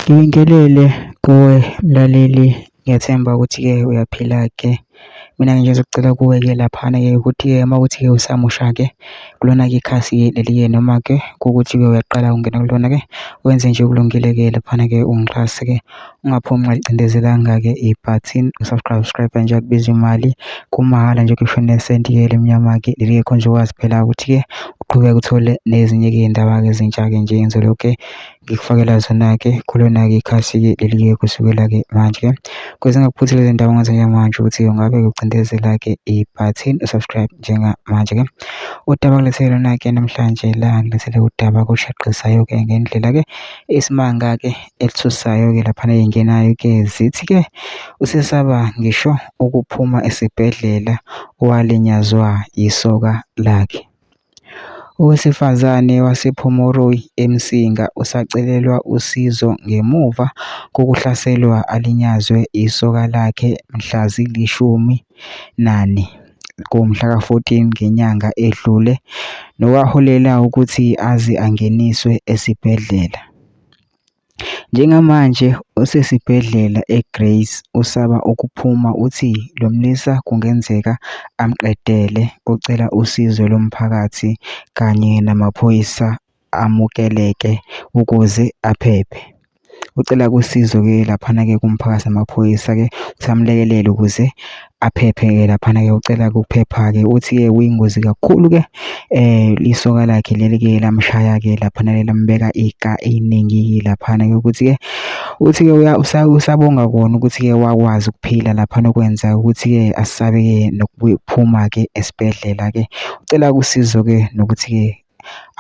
Ngibingelele kuwe mlaleli ngiyethemba ukuthi-ke uyaphila-ke. Mina-ke nje ngizocela kuwe-ke laphana-ke ukuthi-ke uma kuwukuthi-ke usamusha-ke kulona-ke ikhasi leli-ke noma-ke kuwukuthi-ke uyaqala ukungena kulona-ke wenze nje okulungile-ke laphana-ke ungixhase-ke ungaphumi ungalicindezelanga-ke ibhathini u-subscribe-a nje akubizi mali kumahhala nje ngisho nesenti-ke elimnyama-ke leli-ke khona nje ukwazi phela ukuthi-ke uqhubeke uthole nezinye-ke iy'ndaba-ke ezintsha-ke nje ngizobe . ngikufakela zona-ke kulona-ke ikhasi-ke leli-ke kusukela-ke manje kwezingakuphuthi lezi ndawo ngaze manje ukuthi ungabe ucindezela-ke ibhathini usubscribe njengamanje-ke udaba kulethele lona-ke namhlanje la ngilethele udaba kushaqhisayo-ke ngendlela-ke isimanga-ke elithusayo-ke laphana eyingenayo-ke zithi-ke usesaba ngisho ukuphuma esibhedlela walinyazwa yisoka lakhe Owesifazane wasePhomoroyi, eMsinga, usacelelwa usizo ngemuva kokuhlaselwa alinyazwe isoka lakhe mhla zili-14 ngenyanga edlule, nokwaholela ukuthi aze angeniswe esibhedlela. Njengamanje usesibhedlela eGrey's usaba ukuphuma uthi lo mlisa kungenzeka amqedele ucela usizo lomphakathi kanye namaphoyisa amukeleke ukuze aphephe. Ucela ke usizo-ke laphana-ke kumphakathi namaphoyisa-ke ukuthi amlekelele ukuze. aphephe-ke laphana-ke ucela ukuphepha-ke uthi-ke kuyingozi kakhulu-ke um isoka lakhe leli-ke lamshaya-ke laphana lelambeka ika eningi-ke laphana-ke ukuthi-ke uthi-ke usabonga kona ukuthi-ke wakwazi ukuphila laphana okwenza ukuthi-ke asabe-ke nokuphuma-ke esibhedlela-ke ucela usizo-ke nokuthi-ke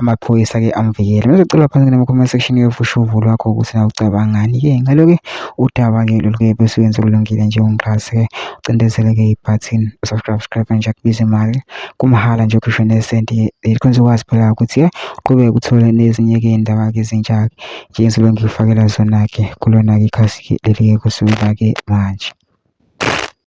amaphoyisa ke amvikele ngizocela phansi kule comment section yethu usho uvo lwakho ukuthi na ucabangani ke ngalo ke udaba ke lolu ke bese wenza okulungile njengomxhasi ke ucindezele ke ibutton subscribe subscribe nje kubiza imali kumahhala nje ukhishwe nesenti likhonza ukwazi phela ukuthi ke uqhubeke uthole nezinye ke indaba ke ezintsha ke njengezinto ngifakela zona ke kulona ke ikhasi leli ke kusukela ke manje